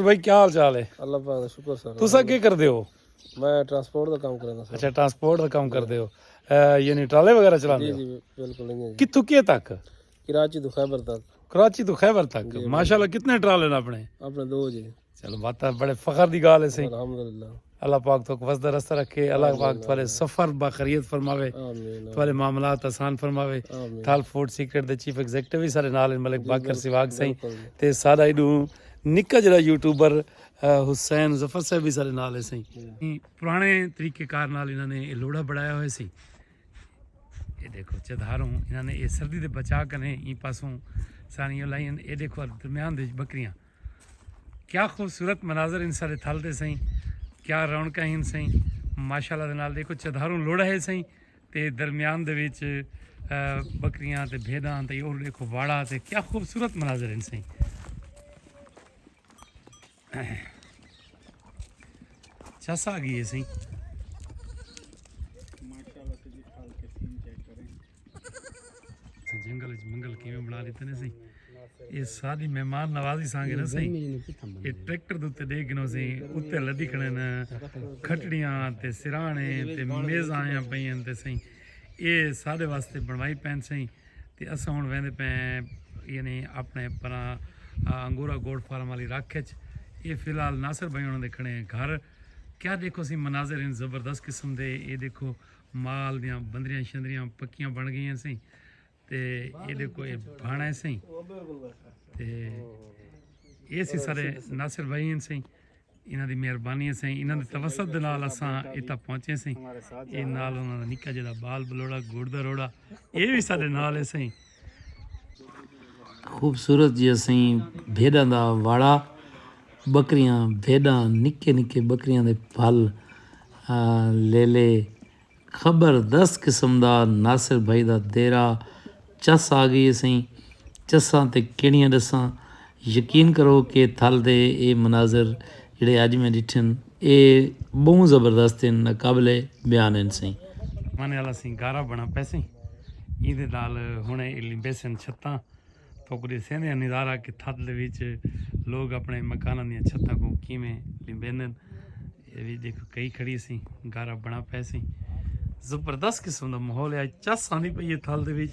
بھائی کیا حال چال ہے اللہ پاک دا شکر سر تسا کی کردے ہو میں ٹرانسپورٹ دا کام کردا سر اچھا ٹرانسپورٹ دا کام جی۔ کردے ہو یعنی ٹرالے وغیرہ چلاندے جی ہو جی بالکل انجے جی کتھوں کیے تک کراچی تو خیبر تک کراچی تو خیبر تک جی، ماشاءاللہ کتنے ٹرالے نے اپنے اپنے دو جی چلو بات بڑے فخر دی گال ہے سی الحمدللہ اللہ پاک تو وسدا رستہ رکھے اللہ پاک تھوڑے سفر باخریت فرماوے تھوڑے معاملات آسان فرماوے تھال فوڈ سیکرٹ دے چیف ایگزیکٹو بھی سارے نال ملک باکر سواگ سائیں تے سارا ایڈو نکا جڑا یوٹیوبر حسین ظفر صاحب بھی سارے نال ہے سائیں پرانے طریقے کار نال انہاں نے یہ لوڑا بڑھایا ہوئے سی یہ دیکھو چدھاروں انہاں نے یہ سردی دے بچا کنے این پاسوں سانیوں لائیں یہ دیکھو درمیان دے بکریاں کیا خوبصورت مناظر ان سارے تھل دے سائیں کیا رونکاں ہن سائیں ماشاءاللہ دے نال دیکھو چدھاروں لوڑا ہے سائیں تے درمیان دے وچ بکریاں تے بھیداں تے اور دیکھو واڑا تے کیا خوبصورت مناظر ہن سائیں چس آ گئی ہے سائیں جنگل وچ منگل کیویں بنا لیتے نے سی اے ساری مہمان نوازی سانگے نہ سی اے ٹریکٹر دے تے دے گنو سی اتے لدی کھڑے نے کھٹڑیاں تے سرانے تے میز آیاں پئیاں تے سی اے سارے واسطے بنوائی پین سی تے اساں ہن ویندے پے یعنی اپنے پرا انگورا گوڈ فارم والی رکھ وچ اے فی الحال ناصر بھائی انہاں دے کھڑے گھر کیا دیکھو سی مناظر ان زبردست قسم دے اے دیکھو مال دیاں بندریاں شندریاں پکیاں بن گئیاں سیں تے ایڈے کوئی بھانا سیں تے یہ سی سارے ناصر بھائی ہیں سیں انہاں دی مہربانی سیں انہاں دے توسط دے نال اساں ایتھا پہنچے سیں اے نال انہاں دا نکا جڑا بال بلوڑا گوڑ دا روڑا اے وی سارے نال سیں خوبصورت جی اسیں بھیݙاں دا واڑا ٻکریاں بھیݙاں نکے نکے ٻکریاں دے پھل لیلے خبر دس قسم دا ناصر بھائی دا دیرہ چس آ گئی اسیں چساں تے کیڑیاں ݙساں یقین کرو کہ تھل دے اے مناظر جیڑھے اج میں ڈٹھن اے بہوں زبردست ہن ناقابل بیان ہن سئیں۔ مانے آلا سئیں گارا بنا پیسیں ایں دے نال ہنڑے الی بیسن چھتاں توک ڈیسیندیاں نظارہ کہ تھل دے وچ لوگ اپنے مکاناں دیاں چھتاں کوں کیویں لیندن اے وی ڈیکھو کئی کھڑی سئیں گارا بنا پیسیں زبردست قسم دا ماحول ہے اج چس آندی پئی ہے تھل دے وچ۔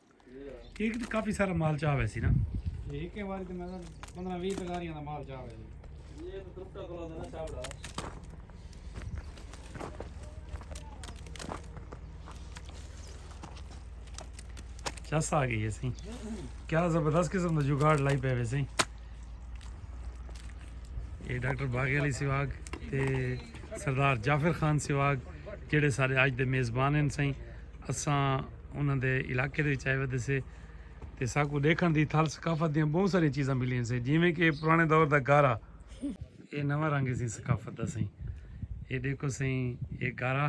کیونکہ کافی سارا مال چاہ ہوئے سی نا ایک کے باری تو میں پندرہ ویس دلاریاں دا مال چاہ ہوئے سی یہ تو ترکتا کلو دا نا چاہ بڑا چس آ گئی ہے سی کیا زبردست قسم دا جگاڑ لائی پہ ہوئے سی یہ ڈاکٹر باغی علی سواگ تے سردار جعفر خان سواگ جڑے سارے آج دے میزبان ہیں سائیں اساں انہاں دے علاقے دے وچ آئے ودے سے تے ساکوں ڈیکھن دی تھال ثقافت دیاں بہوں ساریاں چیزاں ملین سے جیویں کہ پرانے دور دا گارا اے نواں رنگ اسیں ثقافت دا سئیں اے ڈیکھو سئیں اے گارا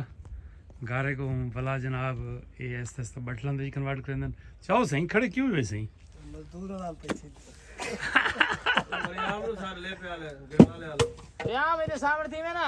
گارے کو بلا جناب اے ایستا ایستا بٹلن دے کنورٹ کریندن چاہو سئیں کھڑے کیوں ہوئے سئیں مزدور نال پیچھے ریاض نو سر لے پیا لے گڑا لے آلو ریاض میرے سامنے تھی میں نا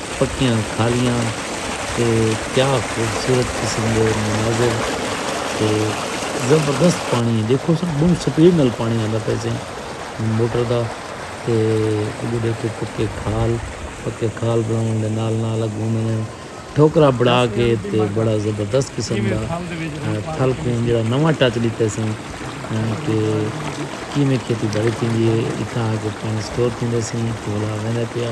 پکیاں کھالیاں تے کیا خوبصورت قسم دے مناظر تے زبردست پانڑی ہے دیکھو سا بہوں سپیڈ نال پانڑی آندا پئے سے موٹر دا تے اگو دیکھو پکے کھال پکے کھال بناون دے نال نال اگو انہاں نے ٹھوکرا بنا کے تے بڑا زبردست قسم دا تھل کوں جیڑا نواں ٹچ ڈتے سے کہ کیویں کھیتی باڑی تھیندی ہے اتھاں آ کے پانڑی سٹور تھیندے سے تے ولا ویندا پیا۔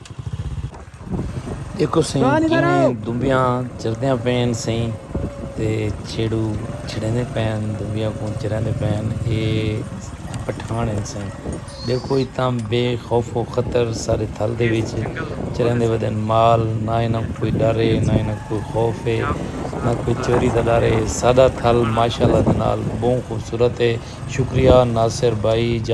ݙیکھو سئیں کیویں دنبیاں چردیاں پئین سئیں تے چھیڑو چھڑیندے پئین دنبیاں کوں چریندے پئین اے پٹھاݨ ہن سئیں ݙیکھو اتاں بے خوف و خطر سارے تھل دے وچ چریندے ودن مال نہ انہاں کوں کوئی ݙر اے نہ انہاں کوں کوئی خوف اے نہ کوئی چوری دا ݙر اے ساݙا تھل ماشاءاللہ دے نال ٻہوں خوبصورت اے شکریہ ناصر بھائی جان۔